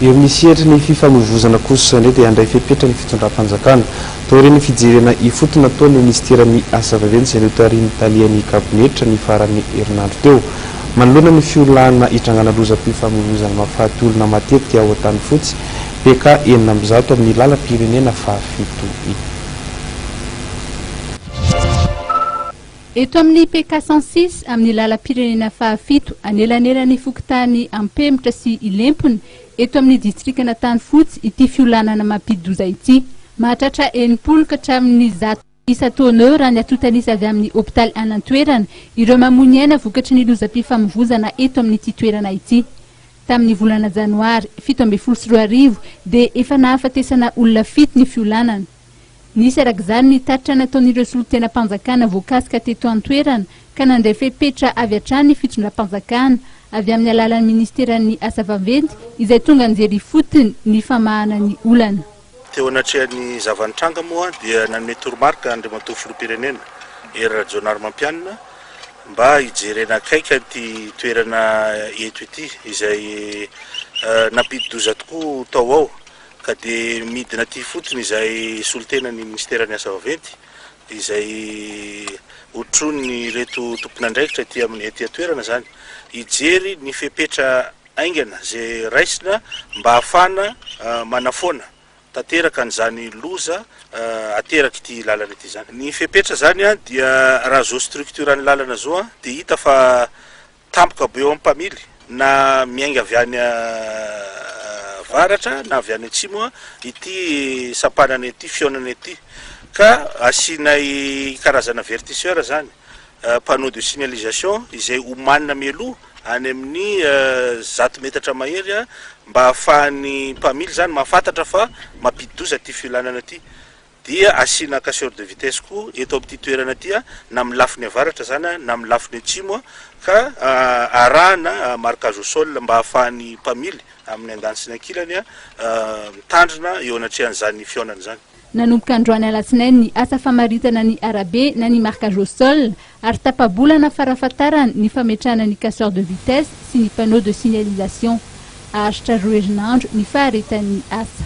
Eo amin'ny sehatry ny fifamoivozana kosa indray dia handray fepetra ny fitondram-panjakana. Taorian'ny fijerena ifotony nataon'ny minisiteran'ny Asa vaventy izay notarihin'ny talian'ny kabinetra ny faran'ny herinandro teo, manoloana ny fiolahana hitrangana lozam-pifamoivozana mahafaty olona matetika ao Antanifotsy, PK enina amby zato amin'ny lalam-pirenena fahafito iny. Eto amin'ny PK cent six, amin'ny lalam-pirenena fahafito, anelanelan'ny fokontany Ampemotra sy Ilempona, eto amin'ny distrikan'Antanifotsy, ity fiolanana mampidi-doza ity. Mahatratra enimpolo ka hatramin'ny zato isa tonneau raha ny atontan'isa avy amin'ny hopitaly any an-toerana, ireo mamoy ny aina vokatry ny lozam-pifamovoizana eto amin'ity toerana ity. Tamin'ny volana janoary fito ambin'ny folo sy roa arivo dia efa nahafatesana olona fito ny fiolanana. Nisy araka izany ny tatitra nataon'ireo solontenam-panjakana voakasika teto an-toerana ka nandray fepetra avy hatrany ny fitondram-panjakana avy amin'ny alalan'ny Ministeran'ny Asa Vaventy izay tonga nijery ifotony ny famahana ny olana. Teo anatrehan'ny zava-nitranga moa dia nanome toromarika Andriamatoa Filoham-pirenena Hery Rajaonarimampianina mba hijerena akaiky an'ity toerana eto ity izay nampidi-doza tokoa tao ao. Ka dia midina aty fotsiny izay solontenan'ny Minisiteran'ny Asa Vaventy izay hotronin'ireto tompon'andraikitra aty amin'ny aty an-toerana izany hijery ny fepetra haingana izay raisina mba hahafahana manafoana tanteraka an'izany loza aterak'ity lalana ity izany. Ny fepetra izany dia raha zo structure ny lalana zo dia hita fa Tampoka be eo amin'ny mpamily, na miainga avy any avaratra na avy any atsimo ity sampanana ity, fihaonana ity. Ka asianay karazana avertisseur izany, panneau de signalisation, izay omanina mialoha any amin'ny zato metatra mahery mba ahafahan'ny mpamily izany mahafantatra fa mampidi-doza ity fiolanana ity. dia asiana casseur de vitesse koa eto amin'ity toerana ity na amin'ny lafiny avaratra izany na amin'ny lafiny atsimo ka arahana marquage au sol mba ahafahan'ny mpamily amin'ny andaniny sy ny ankilany mitandrina eo anatrehan'izany fihaonana izany. Nanomboka androany alatsinainy ny asa famaritana ny arabe na ny marquage au sol ary tapa-bolana farafatarany ny fametrahana ny casseur de vitesse sy ny panneau de signalisation. Haharitra roa herinandro ny faharetan'ny asa.